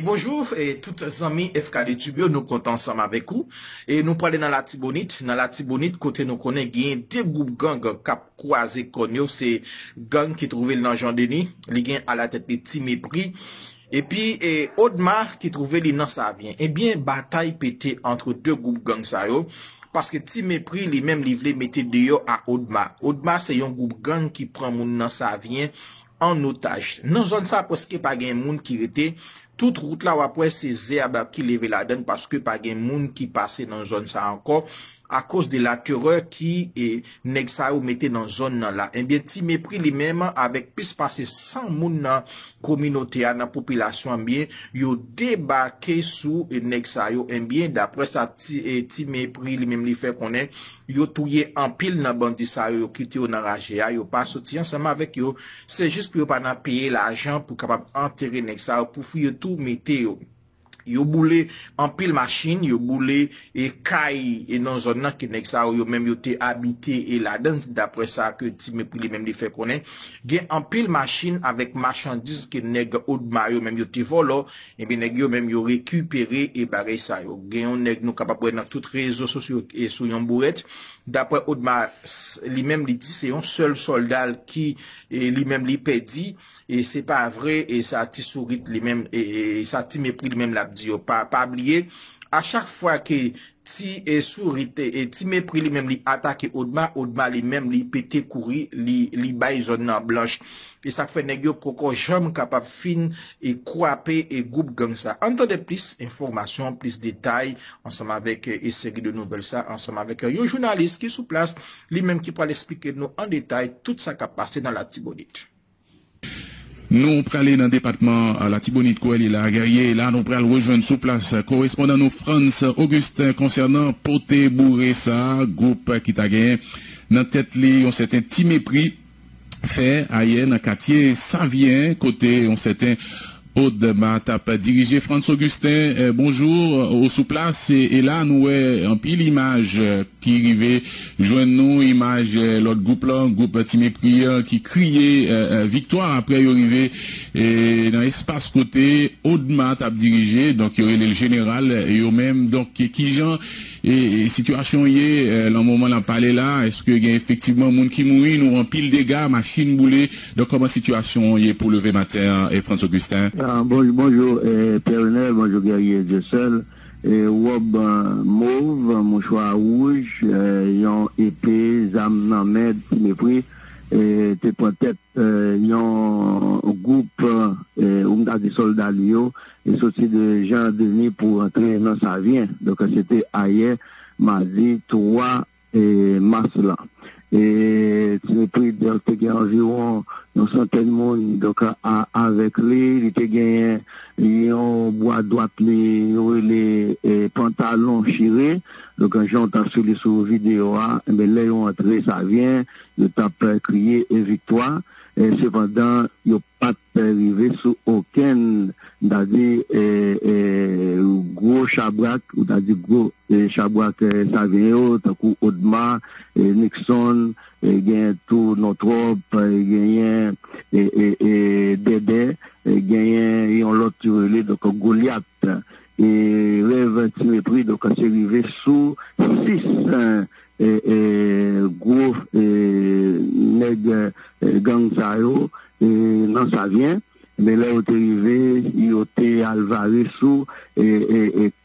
Bonjou tout zanmi FKD tube yo nou kontan ansanm avèk ou e nou prale nan latibonit nan latibonit kote nou konnen genyen 2 gwoup gang kap kwaze kòn yo se gang ki twouvel nan Jean Denis li gen alatèt li Ti Mepri epi Odma ki twouve li nan Savyen ebyen batay pete antre 2 gwoup gang sa yo paske Ti Mepri li menm li vle mete deyò a Odma Odma se yon gwoup gang ki pran moun nan Savyen an otaj. Nan zòn sa preske pa gen moun ki rete, tout wout la wap wè se zèb ki leve ladann paske pa gen moun ki pase nan zòn sa ankò akoz de la terè ki nèg sa yo mete nan zòn nan la. Ebyen Ti Mepri li menm avèk plis pase 100 moun nan kominote a, nan popilasyon an ebyen yo debake sou nèg sa yo ebyen daprè sa Ti Mepri li menm li fè konnen Yo touye anpil nan bandi sa yo yo kite yo nan raje a yo pa soti ansanm avèk yo se jis pou yo pa nan peye lajan pou kapab antere nèg sa yo pou fouye tou mete yo yo boule anpil machin yo boule e kay e nan zòn nan ke nèg sa yo yo menm yo te abite e ladann daprè sa ke ti mepri li menm li fè konnen gen anpil machin avèk machandiz ke nèg odma yo menm yo te vòlò Ebyen nèg yo menm yo rekipere e bagay sa yo. Gen yon nèg nou kapab wè nan tout rezo sosyo e sou yon bourèt. Daprè Odma li menm li di se yon sèl sòlda l ki li menm li pèdi e se pa vre e sa ti sourit li menm e sa ti mepri li menm l ap di yo. Pa bliye a chak fwa ke Ti sourit e ti mepri li menm li atake odma odma li menm li pete kouri li li bay zòn nan blanch e sak fè nèg yo poko janm kapab fin e kwape e gwoup gang sa ann tande plis enfòmasyon plis detay ansanm avèk e seri de nouvèl sa ansanm avèk yon jounalis ki sou plas li menm ki pral esplike nou an detay tout sa kap pase nan latibonit. Nou prale nan depatman Latibonit kou Elie Laguerrier e la nou pral rejwenn sou plas korespondan nou Frantz Augustin konsènan pote boure sa gwoup ki ta genyen nan tèt li yon sèten Ti Mepri fè ayè nan katye Savyen kote yon sèten Aude ma tap dirije Frantz Augustin bonjour ou sou plas e la nou wè anpil imaj ki rive jwenn nou imaj lòt gwoup lan gwoup ti mepri an ki kriye viktwa aprè yo rive nan espas kote Aude ma tap dirije donk yo rele l jeneral yo menm donk kijan sitiyasyon ye lan moman nap pale la èske gen efektivman moun ki mouri nou wè anpil dega machin boule Donk kòman sitiyasyon an ye pou leve maten an Frantz Augustin? Bonjou Pierre Renel, bonjou Guerrier Dieuseul, wòb mov, mouchwa wouj, yon epe, zam nan men, ti mepri te pran tèt yon gwoup ou m ta di sòlda li yo soti de Jan Deni pou rantre nan Savyen. Donk se te ayè madi 3 mas lan. Preetzels te gen anviwon yon santèn moun, donk avèk li, li te genyen yon bwa dwat li yo rele pantalon chire, donk jan w ta sou li sou videyo a, enben lè yo antre Savyen, yo t ap kriye e viktwa. Sepandan, yo pa t rive sou okenn, m ta di, gwo chabrak, ou ta di gwo chabrak Savyen yo, tankou Odma, Nixon, genyen tou Nòtròp, genyen Dèdè, genyen yon lòt yo rele donk Golyat. E rèv Timepri donk se rive sou 6. Gwo nèg gang sa yo nan Savyen, men lè yo te rive, yo te al vare sou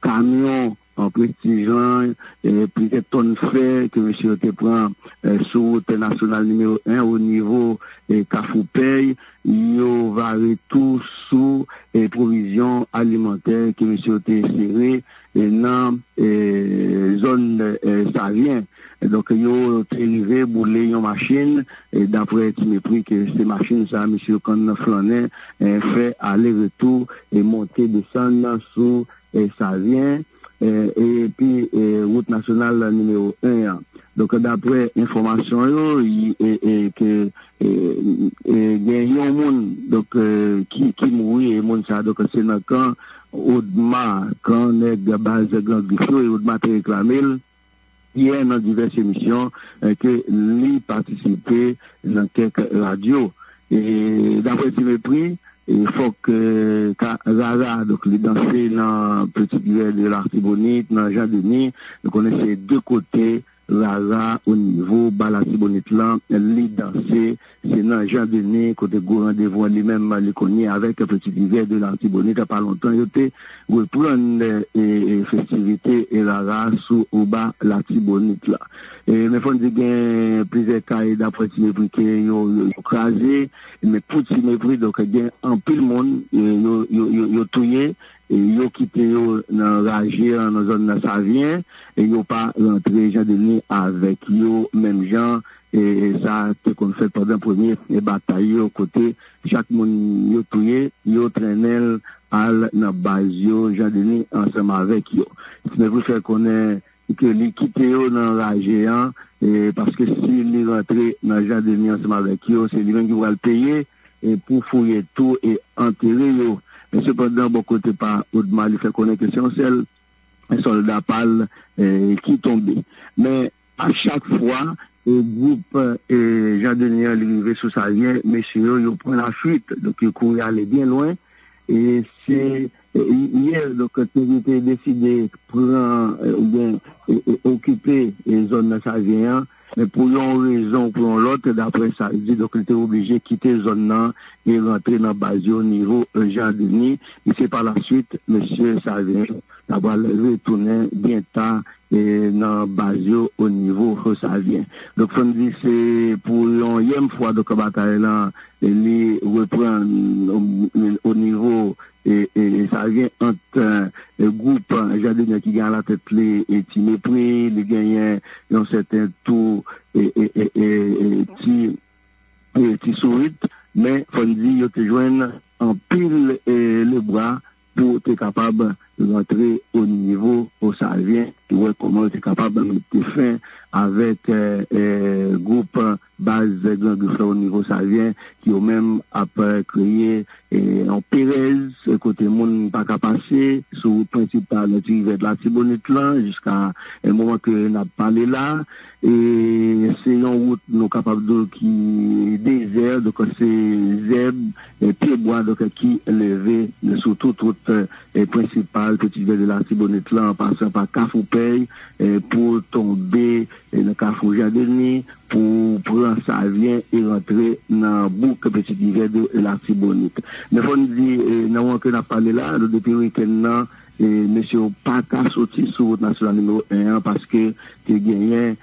kamyon Prestij lan, plizyè tòn fè ke mesye yo te pran sou wout nasyonal nimewo 1 onivo Kafou Pèy, Yo vare tou sou pwovizyon alimantè ke mesye yo te sere nan zòn Savyen. Donk yo te rive boule yon machin, dapre ti mepri ke se machin sa mesye yo konn flannen, fè ale retou, monte desann sou Savyen. epi wout nasyonal nimewo 1 an. Donk daprè enfòmasyon yo ke gen yon moun donk ki mouri e moun sa donk se nan kan Odma, kan nèg baz Gran Grif yo e Odma te reklame l. Pierre nan divès emisyon ke li patisipe nan kèk radyo. Daprè Ti Mepri, fòk ka rara, donk li danse nan Petit Grès de Lartibonite, nan Jean Denis, nou konnen se 2 kote rara onivo ba Latibonit lan li danse. Se nan Jean Denis kote gwo randevou an li menm li konye avèk Petit Rivière de l'Artibonite pa lontan yo te reprann festivite e rara sou Oba Latibonit la. Men fò n di gen plizyè kay dapre Ti Mepri ke yo kraze men pou Ti Mepri donk gen anpil moun yo touye yo kite yo nan raje an nan zòn Savyen yo pa rantre Jean Denis avèk yo menm jan E sa te konn fèt pandan premye batay yo kote chak moun yo touye, yo trennen l al nan baz yo, Jean Denis ansanm avèk yo. Snevry fè konnen ke li kite yo nan raje an paske si li rantre nan Jean Denis ansanm avèk yo, se li menm ki pral peye pou fouye tou e antere yo. Sepandan, bò kote pa Odma, li fè konnen ke se yon sèl sòlda pa l ki tonbe. Men, A chak fwa gwoup Jean Denis an li rive sou Savyen, mesye yo, yo pran lafuit. Donk yo kouri ale byen lwen. E se yè donk Tony te deside pran oubyen okipe zòn nan Savyen an. Men pou yon rezon ou pou yon lòt, daprè sa l di, donk li te oblije kite zòn nan e rantre nan baz yo nivo Jean Denis. E se pa lasuit mesye Savyen yo ta pral retounen byen ta nan baz yo o nivo Fosavyen. Donk fò n di se pou yon yèm fwa donk batay lan li reprann o nivo Savyen ant gwoup Jadenè ki gen alatèt li Ti Mepri, li genyen yon sèten tou Ti Sourit, men fò n di yo te jwenn anpil lebra. pou te kapab rantre o nivo o Savyen pou wè kòman yo te kapab mete fen avèk gwoup baz Gran Grif la o nivo Savyen ki yo menm ap kreye yon perèz kote moun pa ka pase sou wout prensipal Tirivè Latibonit lan jiska moman ke n ap pale la. E se yon wout nou kapab di w ki dezè, donk se zèb, pyebwa donk ki leve sou tout wout prensipal Peti Rivyè de Latibonit lan an pasan pa Kafou Pèy pou w tonbe nan Kafou Jan Deni pou w pran Savyen e rantre nan bouk Peti Rivyè de Latibonit. Men fò n di nan moman ke n ap pale la a, donk depi wikenn nan, Mesye yo pa ka soti sou wout nasyonal nimewo 1 an paske te genyen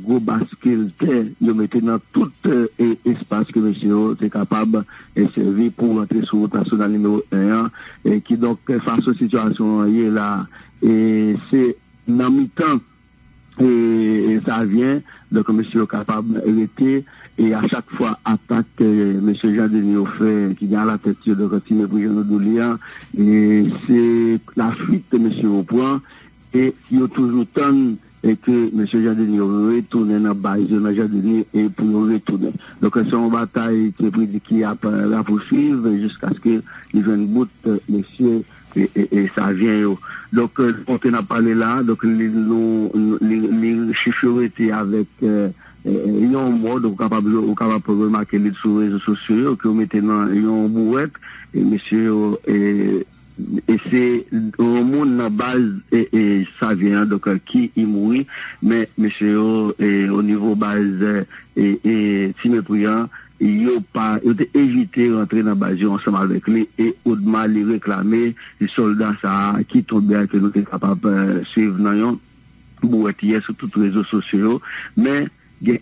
gwo baskil tè yo mete nan tout espas ke mesye yo te kapab sèvi pou rantre sou wout nasyonal nimewo 1 an. Kidonk fason sitiyasyon an ye la a, se nan mitan e sa vyen donk mesye yo kapab rete e a chak fwa atak ke mesye Jean Denis yo fè ki gen alatèt yo donk Ti Mepri jan nou di w li an e se lafwit ke mesye yo pran e yo toujou tann e ke mesye Jean Denis yo retounen nan baz yo nan Jean Denis e pou yo retounen donk se yon batay Ti Mepri di ki ap rapousuiv jiskaske li jwenn bout mesye e savyen yo. Donk kote n ap pale la a, donk li chif yo rete avèk yon mò, donk ou kapab remake li sou rezo sosyo yo ke yo mete nan yon bouwèt e mesye yo e se yon moun nan baz savyen an donk ki mouri men mesye yo onivo baz ti mepri an. Yo pa yo te evite rantre nan baz yo ansanm avèk li e Odma li reklame ti sòlda sa a ki tonbe a ke nou te kapab swiv nan yon bouwèt yè sou tout rezo sosyo yo men gen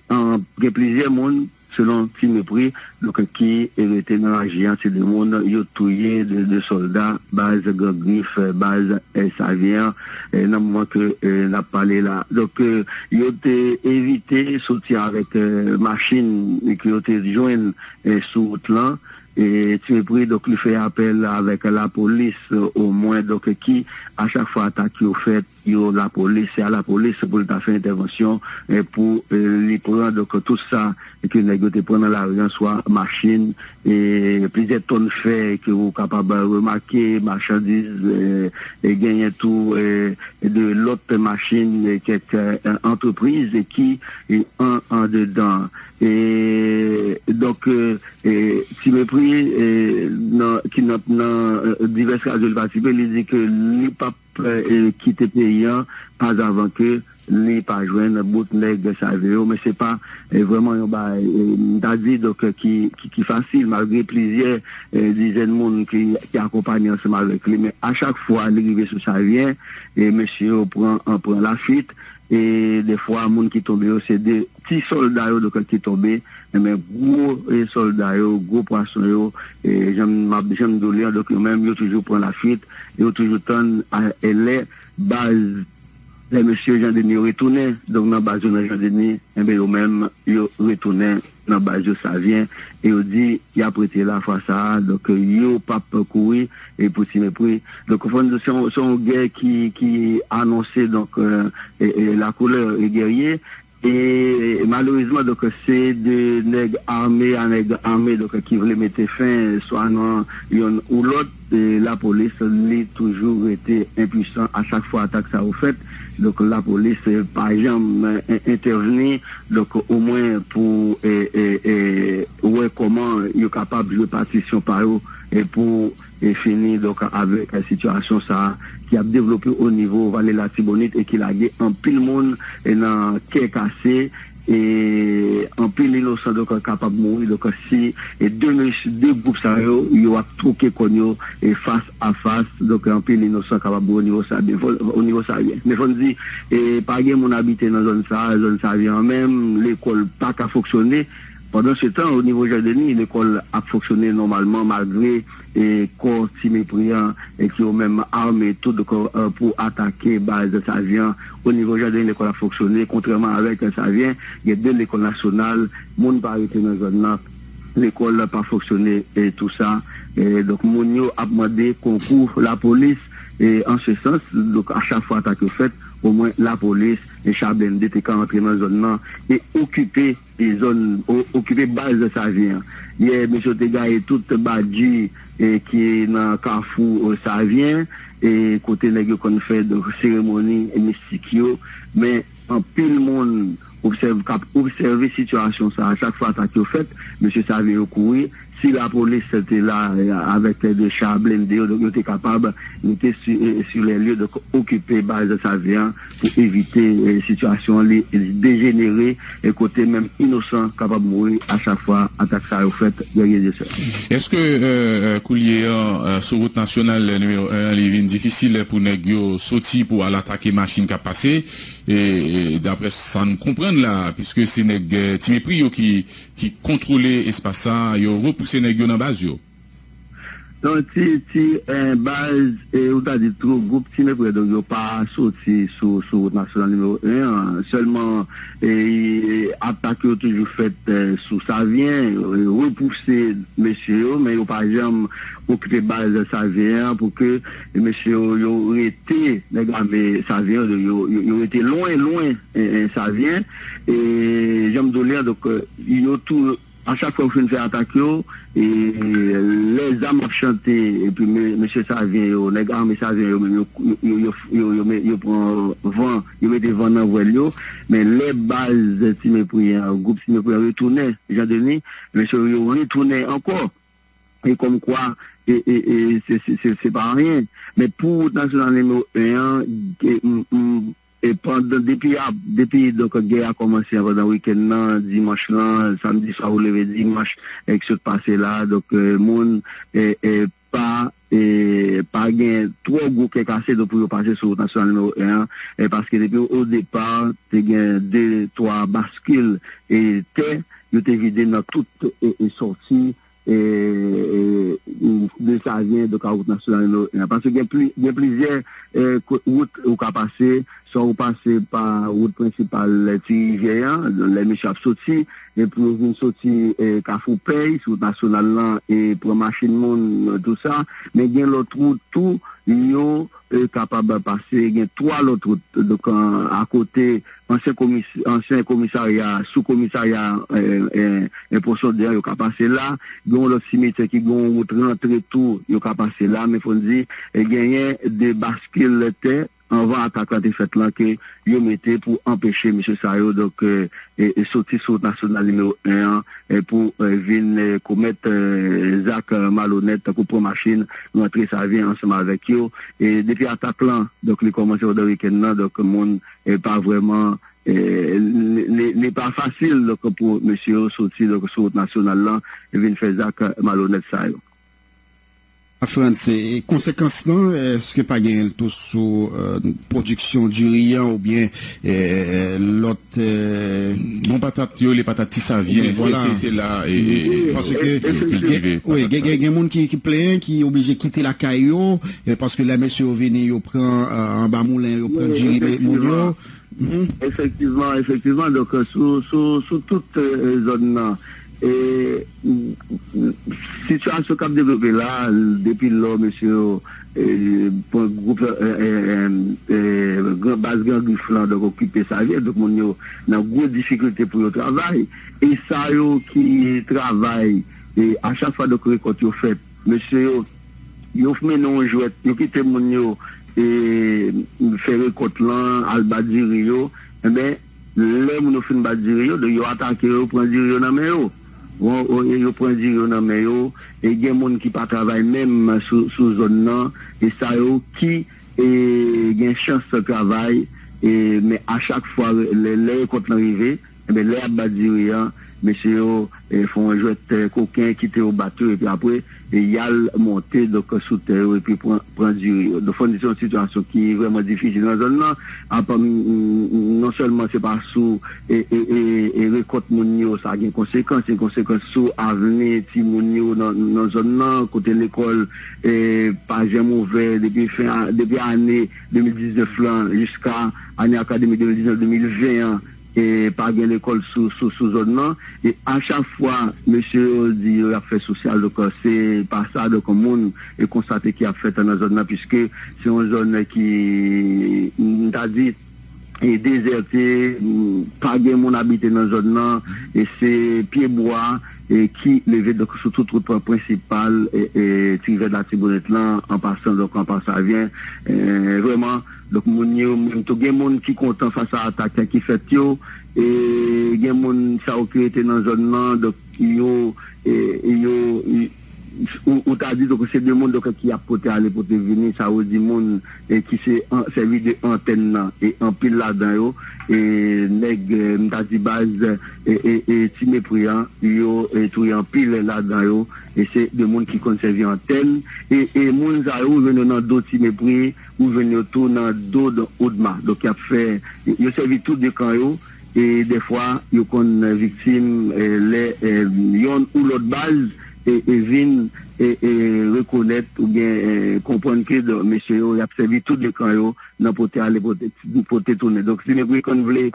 gen plizyè moun selon ti mepri donk ki rete nan laji a se 2 moun yo touye 2 sòlda baz gran grif baz savyen an. nan moman ke nap pale la. Donk yo te evite soti avèk machin ke yo te jwenn sou wout lan e Tuepri donk li fè apèl avèk lapolis omwen donk ki a chak fwa atak yo fèt yo lapolis se a lapolis pou li ta fè entèvansyon pou li pran donk tout sa e ke nèg yo te pran nan lari an, swa machin, e plizyè tòn fè ke ou kapab remake, machandiz, e genyen tou de lòt machin kèk antrepriz ki andedan. E donk ti mepri nan ki nan nan divès radyo li patisipe li di ke li p ap. kite peyi an pas avan ke li pa jwenn bout nèg save yo men se pa vrèman yon bagay m ta di donk ki fasil malgre plizyè dizèn moun ki akonpanye ansanm avèk li men a chak fwa li rive sou savyen mesye yo pran lafwit e dèfwa moun ki tonbe yo se de Ti sòlda yo donkr ki tonbe, men gwo sòlda yo, gwo pwason yo, jan m ap jan m di w li an, donk yo menm yo toujou pran lafuit, yo toujou tann lè baz lè mesye Jan Deni yo retounen donk nan baz yo nan Jan Deni, enben yo menm yo retounen nan baz yo Savyen e yo di y ap rete la fwa sa a, donk yo p ap kouri pou ti mepri. Donk ou konprann se yon gè ki anonse donk lakoulè e gèrye. E malerezman donk se 2 nèg ame a nèg ame donk ki vle mete fen swa nan yonn ou lòt e lapolis li toujou rete enpwisan a chak fwa atak sa yo fèt donk lapolis pa janm entèvni donk omwen pou wè kòman yo kapab jwe patisyon pa yo pou e fini donk avèk sitiyasyon sa a ki ap devlope o nivo vale latibonit e ki lage anpil moun nan kè kase e anpil inosan donk kapab mouri donk si de mech de gwoup sa yo yo ap twoke kòn yo e fas a fas donk anpil inosan kapab mouri o nivo sa byen fò o nivo sa byen men fò n di e pa gen moun abite nan zòn sa a zòn sa vye an menm lekòl pa ka fonksyone. Pandan se tan, o nivo Jan Deni, lekòl ap fonksyone nòmalman malgre kò Ti Mepri an ki yo menm ame tout kò pou atake baz Savyen. O nivo Jan Deni lekòl ap fonksyone kontrèman avèk Savyen, gen 2 lekòl nasyonal, moun pa rete nan zòn nan, lekòl pa fonksyone tou sa. Donk moun yo ap mande konkou lapolis an se sans. Donk a chak fwa atak yo fèt, omwen lapolis, cha blende te ka antre nan zòn nan e okipe. E zòn okipe baz Savyen an. Yè mesye yo te gaye tout bgy ki nan kafou Savyen e kote nèg yo konn fè seremoni mistik yo. Men anpil moun obsève kap obsève sitiyasyon sa a chak fwa atak yo fèt mesye Savyen yo kouri. Si lapolis te la avèk de cha blende yo, donk yo te kapab rete sur les lieux, donk okipe baz Savyen an pou evite sitiyasyon an li dejenere kote menm inosan kapab mouri a chak fwa atak sa yo fèt dènye de sè. Eske koulye a sou wout nasyonal nimewo 1 an li vin difisil pou nèg yo soti pou al atake machin k ap pase? Daprè sa n konprann la, piske se nèg ti mepri yo ki ki kontrole espas sa yo repouse nèg yo nan baz yo. Yon ti ti baz e ou ta di two gwoup ti mepre donk yo pa soti sou sou wout nasyonal nimewo 1 an sèlman e atak yo toujou fèt sou savyen repouse mesye yo men yo pa janm okipe baz savyen an pou ke mesye yo yo rete nèg ame savyen yo yo rete lwen lwen savyen. E jan m di w li an, donk yo tou a chak fwa yo fin fè atak yo, e lè zam ap chante epi mesye savyen yo, nèg ame savyen yo menm yo pran van, yo mete van nan vwèl yo, men lè baz ti mepri an, gwoup ti mepri an retounen Jan Deni, men se yo retounen ankò, e kòm kwa se pa anyen. Men pou wout nasyonal nimewo 1 an, m. E pandan depi ap depi donk gè a kòmanse a pandan wikenn nan dimanch lan samdi swa pou leve dimanch ki sot pase la a donk moun e pa e pa gen twò gwo kè kase donk pou yo pase sou wout nasyonal nimewo 1 an e paske depi o depa te gen 2 twa baskil e tè yo te vide nan tout e sòti de sa vyen de ka wout nasyonal no 1 paske gen pli gen plizyè wout ou ka pase swa ou pase pa wout prensipal ti rivyè an lè misye ap soti epi yo vin soti kafou pèy sou wout nasyonal lan e pran machin moun tout sa men gen lòt wout tou yo kapab pase gen 3 lòt wout donk akote Ansyen komisarya, sou komisarya en poson de an yo ka pase la. Gen yon lòt simetyè ki gen yon wout rantre tou yo ka pase la. Men fò n di genyen de baskil tè anvan atak la te fèt lan ke yo mete pou anpeche mesye sa yo donk soti sou wout nasyonal nimewo 1 an pou vin komèt zak malonèt tankou pran machin rantre sa vyen ansanm avèk yo. Depi atak lan donk li kòmanse pandan wikenn nan donk moun pa vrèman li pa fasil donk pou mesye yo soti donk sou wout nasyonal lan vin fè zak malonèt sa yo. Frantz, e konsekans lan èske pa genyen l tou sou pwodiksyon diri an oubyen lòt bon patat yo rele patat ti savyen se la paske gen moun ki plenyen ki oblije kite lakay yo Paske lè mesye yo vini, yo pran anba moulen, yo pran diri moun yo. Efektivman, efektivman. Donk, sou tout zòn nan, sitiyasyon k ap devlope la, depi lò mesye yo pran gwoup baz Gran Grif lan, donk okipe sa vye, donk moun yo nan gwo difikilte pou yo travay. E sa yo ki travay, a chak fwa donk rekòt yo fèt, Mesye yo yo fme nou yon jwèt yo kite moun yo fè rekòt lan al bat diri yo enben lè moun yo fin bat diri yo yo atake yo yo pran diri yo nan men yo yo pran diri yo nan men yo e gen moun ki pa travay menm sou zòn nan e sa yo ki gen chans travay men a chak fwa lè rekòt lan rive Enben lè yap bat diri an mesye yo fè yon jwèt koken kite yo bat yo epi apre yal monte donk sou tè yo epi pran pran diri yo donk fò n di se yon sitiyasyon ki vrèman difisil nan zòn nan ap non sèlman se pa sou e rekòt moun yo sa gen konsekans se konsekans sou avni timoun yo nan zòn nan kote lekòl pa janm ouvè depi fen depi ane 2019 lan jiska ane akademik 2019 2020 an. E pa gen lekòl sou zòn lan. E a chak fwa mesye yo di yo y ap fè sosyal, donk se pa sa, donk moun e konstate ki ap fèt nan zòn lan piske se yon zòn ki m ta di e dezète, pa gen moun abite nan zòn lan e se pye bwa e ki leve donk sou tout wout prensipal e ti rivèl latibonit lan an pasan donk an pasavyen e vrèman. Donk moun yo menm tou gen moun ki kontan fas a atak ki fèt yo e gen moun sa yo ki rete nan zòn nan donk yo yo ou ta di donk se 2 moun donk ki ap pote ale pote vini sa yo di moun ki se sèvi de antèn nan e anpil ladan yo e nèg m ta di baz e ti mepri an yo touye anpil ladan yo e se 2 moun ki konn sèvi antèn e moun sa yo ou jwenn yo nan do ti mepri. Ou jwenn yo tou nan do Don Odma. Donk y ap fè, yo sèvi tou de kan yo e dèfwa yo konn viktim lè yonn ou lòt baz vin rekonèt oubyen konprann ke mesye yo y ap sèvi tou de kan yo nan pote ale pote tounen. Donk si nèg Rickon vle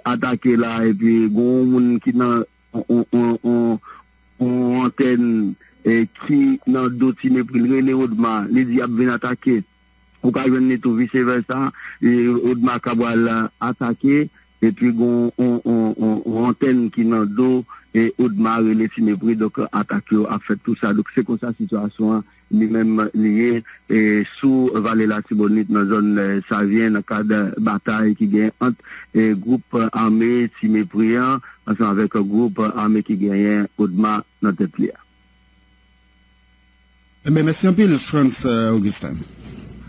atake la epi gon yon moun ki nan. Yon antèn ki nan do Ti Mepri l rele Odma, li di y ap vin atake. Ou ka jwenn li tou visevèsa, Odma ka pral atake epi gen yon antèn ki nan do Odma rele Ti Mepri. Donk, atak yo ap fèt tou sa. Donk, se konsa sitiyasyon an Li menm li ye sou Vale Latibonit nan zòn Savyen nan kad batay ki gen ant gwoup ame Ti Mepri an ansanm avèk gwoup ame ki genyen Odma nan tèt li a. Mèsi anpil Frantz Augustin.